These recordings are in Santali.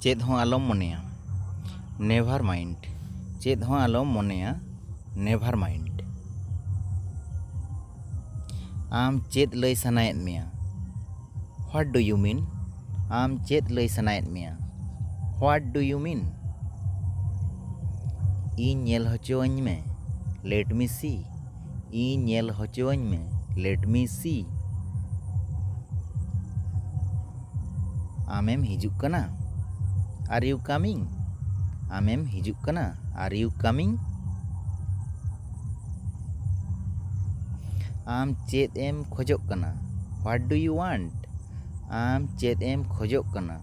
ᱪᱮᱫ ᱦᱚᱸ ᱟᱞᱚᱢ ᱢᱚᱱᱮᱭᱟ ᱱᱮᱵᱷᱟᱨ ᱢᱟᱭᱤᱱᱰ ᱪᱮᱫ ᱦᱚᱸ ᱟᱞᱚᱢ ᱢᱚᱱᱮᱭᱟ ᱱᱮᱵᱷᱟᱨ ᱢᱟᱭᱤᱱᱰ ᱟᱢ ᱪᱮᱫ ᱞᱟᱹᱭ ᱥᱟᱱᱟᱭᱮᱫ ᱢᱮᱭᱟ ᱦᱚᱣᱟᱴ ᱰᱩ ᱭᱩ ᱢᱤᱱ ᱟᱢ ᱪᱮᱫ ᱞᱟᱹᱭ ᱥᱟᱱᱟᱭᱮᱫ ᱢᱮᱭᱟ ᱦᱚᱣᱟᱴ ᱰᱩ ᱭᱩ ᱢᱤᱱ ᱤᱧ ᱧᱮᱞ ᱦᱚᱪᱚᱣᱟᱹᱧ ᱢᱮ ᱞᱮᱴ ᱢᱤ ᱥᱤ ᱤᱧ ᱧᱮᱞ ᱦᱚᱪᱚᱣᱟᱹᱧ ᱢᱮ ᱞᱮᱴ ᱢᱤ ᱥᱤ ᱟᱢᱮᱢ ᱦᱤᱡᱩᱜ ᱠᱟᱱᱟ ᱟᱨ ᱤᱭᱩ ᱠᱟᱢᱤᱝ ᱟᱢᱮᱢ ᱦᱤᱡᱩᱜ ᱠᱟᱱᱟ ᱟᱨ ᱤᱭᱩ ᱠᱟᱢᱤᱝ ᱟᱢ ᱪᱮᱫ ᱮᱢ ᱠᱷᱚᱡᱚᱜ ᱠᱟᱱᱟ ᱦᱚᱣᱟᱴ ᱰᱩ ᱤᱭᱩ ᱚᱣᱟᱱᱴ ᱟᱢ ᱪᱮᱫ ᱮᱢ ᱠᱷᱚᱡᱚᱜ ᱠᱟᱱᱟ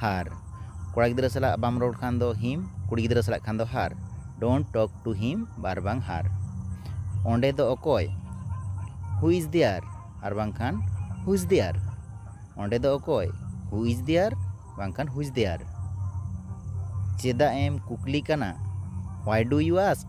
ᱦᱟᱨ, ᱠᱚᱲᱟ ᱜᱤᱫᱽᱨᱟᱹ ᱥᱟᱞᱟᱜ ᱵᱟᱢ ᱨᱚᱲ ᱠᱷᱟᱱ ᱫᱚ ᱦᱤᱢ, ᱠᱩᱲᱤ ᱜᱤᱫᱽᱨᱟᱹ ᱥᱟᱞᱟᱜ ᱠᱷᱟᱱ ᱫᱚ ᱦᱟᱨ, ᱰᱳᱱᱴ ᱴᱚᱠ ᱴᱩ ᱦᱤᱢ ᱟᱨᱵᱟᱝ ᱦᱟᱨ᱾ ᱚᱸᱰᱮ ᱫᱚ ᱚᱠᱚᱭ? ᱦᱩ ᱤᱡᱽ ᱫᱮᱭᱟᱨ ᱟᱨᱵᱟᱝ ᱠᱷᱟᱱ ᱦᱩ ᱤᱡᱽ ᱫᱮᱭᱟᱨ? ᱚᱸᱰᱮ ᱫᱚ ᱚᱠᱚᱭ? ᱦᱩ ᱤᱡᱽ ᱫᱮᱭᱟᱨ ᱵᱟᱝ ᱠᱷᱟᱱ ᱦᱩ ᱤᱡᱽ ᱫᱮᱭᱟᱨ? ᱪᱮᱫᱟᱜ ᱮᱢ ᱠᱩᱠᱞᱤ ᱠᱟᱱᱟ? Why do you ask?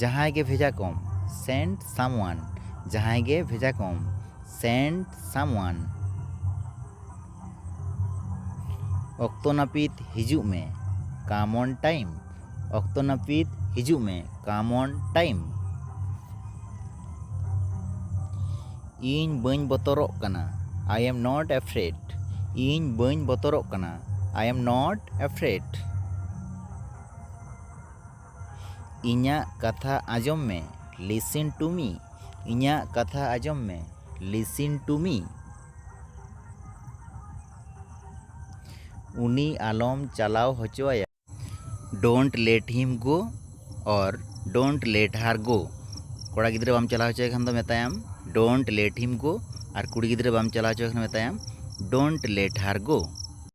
ᱡᱟᱦᱟᱸᱭ ᱜᱮ ᱵᱷᱮᱡᱟ ᱠᱚᱢ ᱥᱮᱱᱰ ᱥᱟᱢᱣᱟᱱ ᱡᱟᱦᱟᱸᱭ ᱜᱮ ᱵᱷᱮᱡᱟ ᱠᱚᱢ ᱥᱮᱱᱰ ᱥᱟᱢᱣᱟᱱ ᱚᱠᱛᱚ ᱱᱟᱹᱯᱤᱛ ᱦᱤᱡᱩᱜ ᱢᱮ ᱠᱟᱢ ᱚᱱ ᱴᱟᱭᱤᱢ ᱚᱠᱛᱚ ᱱᱟᱹᱯᱤᱛ ᱦᱤᱡᱩᱜ ᱢᱮ ᱠᱟᱢ ᱚᱱ ᱴᱟᱭᱤᱢ ᱤᱧ ᱵᱟᱹᱧ ᱵᱚᱛᱚᱨᱚᱜ ᱠᱟᱱᱟ ᱟᱭ ᱮᱢ ᱱᱚᱴ ᱮᱯᱷᱨᱮᱰ ᱤᱧ ᱵᱟᱹᱧ ᱵᱚᱛᱚᱨᱚᱜ ᱠᱟᱱᱟ ᱟᱭ ᱮᱢ ᱱᱚᱴ ᱮᱯᱷᱨᱮᱰ ᱤᱧᱟᱹᱜ ᱠᱟᱛᱷᱟ ᱟᱸᱡᱚᱢ ᱢᱮ ᱞᱤᱥᱤᱱ ᱴᱩ ᱢᱤ ᱤᱧᱟᱹᱜ ᱠᱟᱛᱷᱟ ᱟᱸᱡᱚᱢ ᱢᱮ ᱞᱤᱥᱤᱱ ᱴᱩ ᱢᱤ ᱩᱱᱤ ᱟᱞᱚᱢ ᱪᱟᱞᱟᱣ ᱦᱚᱪᱚ ᱟᱭᱟ ᱰᱳᱱᱴ ᱞᱮᱴ ᱦᱤᱢ ᱜᱳ ᱚᱨ ᱰᱳᱱᱴ ᱞᱮᱴ ᱦᱟᱨ ᱜᱳ ᱠᱚᱲᱟ ᱜᱤᱫᱽᱨᱟᱹ ᱵᱟᱢ ᱪᱟᱞᱟᱣ ᱦᱚᱪᱚᱭᱮ ᱠᱷᱟᱱ ᱫᱚ ᱢᱮᱛᱟᱭᱟᱢ ᱰᱳᱱᱴ ᱞᱮᱴ ᱦᱤᱢ ᱜᱳ ᱟᱨ ᱠᱩᱲᱤ ᱜᱤᱫᱽᱨᱟᱹ ᱵᱟᱢ ᱪᱟᱞᱟᱣ ᱦᱚᱪᱚᱭᱮ ᱠᱷᱟᱱ ᱢᱮᱛᱟᱭᱟᱢ ᱰᱳᱱᱴ ᱞᱮᱴ ᱦᱟᱨ ᱜᱳ